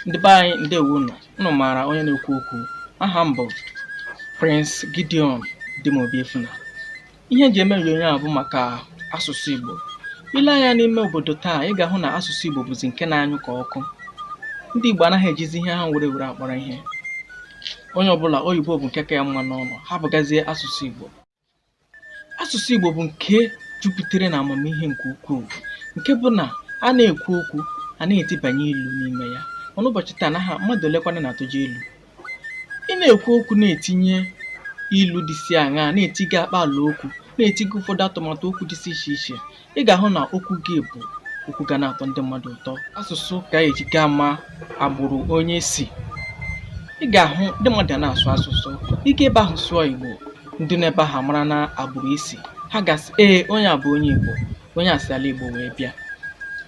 ndị be anyị ndewo nụ unu maara onye na-ekwu okwu aha m bụ Prince Gideon Dimobi Efuna ihe m ji eme onyonyo a bụ maka asụsụ Igbo i lee anya n'ime obodo taa ị ga-ahụ na asụsụ Igbo bụzi nke na-anyụ ka ọkụ ndị Igbo anaghị ejizi ihe ha nwere were akpọrọ ihe onye ọbụla oyibo bụ nke ka ya mma n'ọnụ abụghịzi asụsụ Igbo Asụsụ Igbo bụ nke jupụtara na amamihe nke ukwuu nke bụ na a na-ekwu okwu a na-etibanye ilu n'ime ya mana ụbọchị taa na ha mmadụ olekwanụ na-atụje ilu ị na-ekwu okwu na-etinye ilu dịsị aṅaa na-etiga akpaala okwu na-etiga ụfọdụ atụmatụ okwu dịsị iche iche ị ga-ahụ na okwu gị bụ okwu ga na-atọ ndị mmadụ ụtọ asụsụ ka eji ga ama agbụrụ onye si ị ga-ahụ ndị mmadụ ga na-asụ asụsụ ị gaa ebe ahụ sụọ igbo ndị nọ ebe ahụ mara na agbụrụ i si ha ga-asị ee onye a bụ onye igbo onye a si ala igbo wee bịa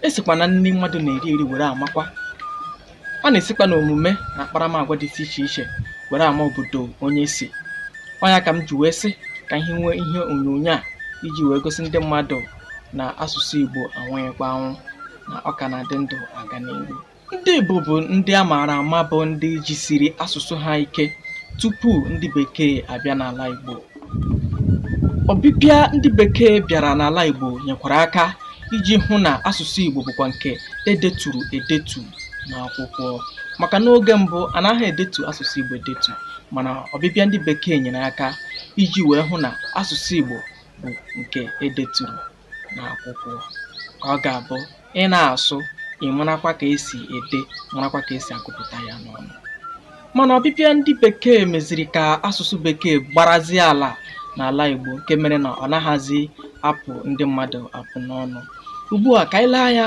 esikwa na nri mmadụ na-eri eri were amakwa a na-esikwa na omume na akparamagwa dịsị iche iche were ama obodo onye si ọ ya ka m ji wee sị ka anyị nwee ihe onyonyo a iji wee gosi ndị mmadụ na asụsụ Igbo anwụghịkwa anwụ na ọ ka na-adị ndụ aga n'ihu ndị Igbo bụ ndị a maara ama bụ ndị jisiri asụsụ ha ike tupu ndị bekee abịa n'ala Igbo ọbịbịa ndị bekee bịara n'ala Igbo nyekwara aka iji hụ na asụsụ Igbo bụkwa nke edeturu edetu n'akwụkwọ maka n'oge mbụ anaghị edetu asụsụ Igbo edetu mana ọbịbịa ndị bekee nyere aka iji wee hụ na asụsụ Igbo bụ nke edeturu n'akwụkwọ ọ ga-abụ ị na-asụ ị marakwa ka esi ede marakwa ka esi agụpụta ya n'ọnụ mana ọbịbịa ndị bekee meziri ka asụsụ bekee gbarazie ala n'ala Igbo nke mere na ọ naghịzi apụ ndị mmadụ apụ n'ọnụ ugbu a ka anyị lee anya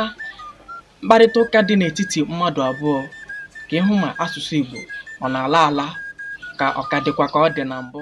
mkparịta ụka dị n'etiti mmadụ abụọ ka ị hụ ma asụsụ Igbo ọ na-ala ala ka ọ ka dịkwa ka ọ dị na mbụ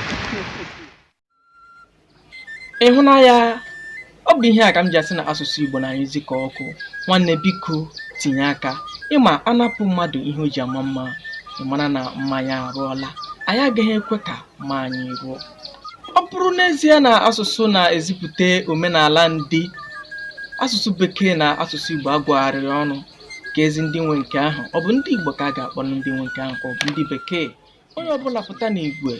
ị hụna ya ọ bụ ihe a ka m ji asị na asụsụ Igbo na-anyụzi ka ọkụ nwanne biko tinye aka ị ma a napụ mmadụ ihe o ji ama mma mara na mma ya arụọla anyị agaghị ekwe ka mma anyị rụọ ọ bụrụ n'ezie na asụsụ na-ezipụta omenala ndị asụsụ bekee na asụsụ Igbo agwagharịrị ọnụ kedụzi ndị nwe nke ahụ ọ bụ ndị Igbo ka a ga-akpọ ndị nwe nke ahụ ka ọ bụ ndị bekee onye ọbụla pụta n'igwe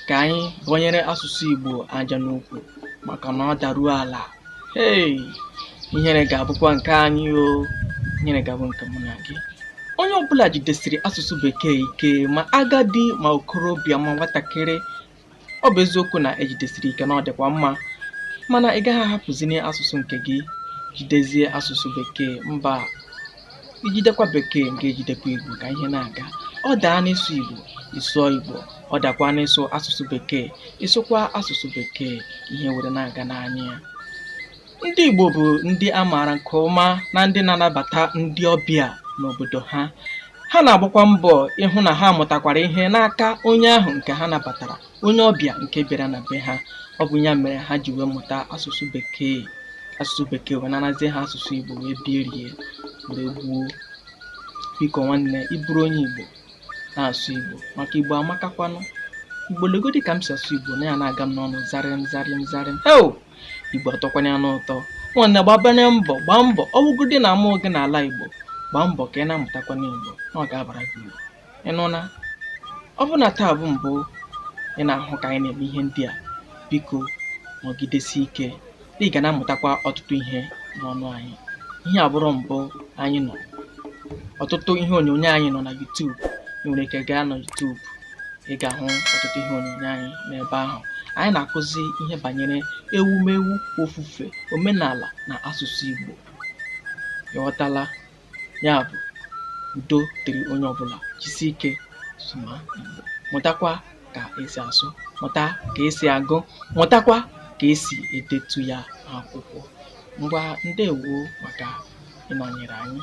ka anyị bọnyere asụsụ Igbo aja n'ukwu maka na ọ daruo ala hei ihere ga-abụkwa nke anyị o ihere ga-abụ nke mụ na gị onye ọbụla jidesiri asụsụ bekee ike ma agadi ma okorobịa ma nwatakịrị ọ bụ eziokwu na e jidesiri ike na ọ dịkwa mma mana ị gaghị ahapụzini asụsụ nke gị jidezie asụsụ bekee mba i jidekwa bekee nke ejidekwa igbo ka ihe na-aga ọ daa n'ịsụ igbo ị sụọ igbo ọ dakwa n'ịsụ asụsụ bekee ị sụkwa asụsụ bekee ihe were na-aga n'anya ya Ndị Igbo bụ ndị a maara nke ọma na ndị na-anabata ndị ọbịa n'obodo ha. Ha na-agbakwa mbọ ịhụ na ha mụtakwara ihe n'aka onye ahụ nke ha nabatara, onye ọbịa nke bịara na be ha. Ọ bụ ya mere ha ji wee mụta asụsụ Bekee. Asụsụ Bekee wee narazie ha asụsụ Igbo wee birie wee gbuo. Biko nwanne, ị bụrụ onye Igbo, na-asụ Igbo maka Igbo amakakwanụ. Igbo legodi ka m si asụ Igbo na ya na-aga m n'ọnụ zarịm zarịm zarịm. Heo! Igbo atọkwanye ya n'ụtọ nwanne gbabanụ mbọ gbaa mbọ ọ bụgodị na amụọ gị n'ala Igbo gbaa mbọ ka ị na-amụtakwanụ Igbo na ọ ga-abara gị uru ị nụna ọ bụrụ na taa bụ mbụ ị na-ahụ ka anyị na-eme ihe ndị a biko nọgidesi ike na ị ga na-amụtakwa ọtụtụ ihe n'ọnụ anyị ihe a abụrọ mbụ anyị nọ ọtụtụ ihe onyonyo anyị nọ na YouTube ị nwere ike gaa na YouTube ị ga-ahụ ọtụtụ ihe onyonyo anyị n'ebe ahụ anyị na-akụzi ihe banyere ewumewu ofufe omenala na asụsụ Igbo ị ghọtala ya bụ udo dịrị onye ọbụla jisi ike sụma Igbo mụtakwa ka esi asụ mụta ka esi agụ mụtakwa ka esi edetu ya akwụkwọ ngwa ndewo maka ịnọnyere anyị